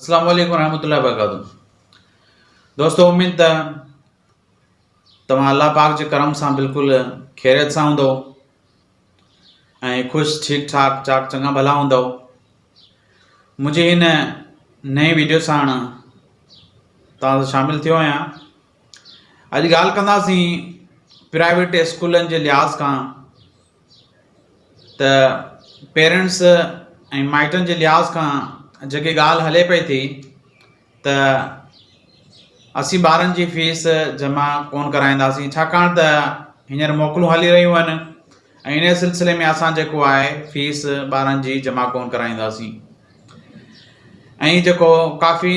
اسلام عليڪم ورحمة الله وبرڪاته دوستو اميد ته توهان الله پاڪ جي کرم سان بلڪل خيريت سان هوندو ۽ خوش ٺيڪ ٺاڪ چاڪ چڱا ڀلا هوندو منهنجي هن نئين ويڊيو سان توهان شامل ٿيو آهيان اڄ ڳالهه ڪنداسين پرائيويٽ اسڪولن جي لحاظ کان ته پيرنٽس ۽ مائٽن جي لحاظ کان جيڪي ڳالهه هلي پئي ٿي ته اسين ٻارن جي فيس جمع ڪونه ڪرائينداسين ڇاڪاڻ ته هينئر موڪلون هلي رهيون آهن ۽ ان سلسلي ۾ اسان جيڪو آهي فيس ٻارن جي جمع ڪونه ڪرائينداسين ۽ جيڪو ڪافي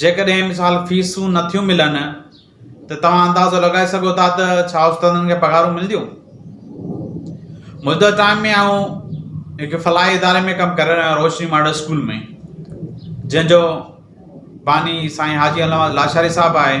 جيڪڏهن مثال فيسون نه ٿيون ملن ته توهان اندازو لڳائي سگهو ٿا ته ڇا استادن کي پگهارون ملنديون؟ موجوده ٽائيم ۾ آئون هڪ فلاحي اداري ۾ ڪم ڪري رهيو روشني ماڊل اسڪول ۾ جنهن جو باني سائين حاجي علامه لاشاري صاحب آهي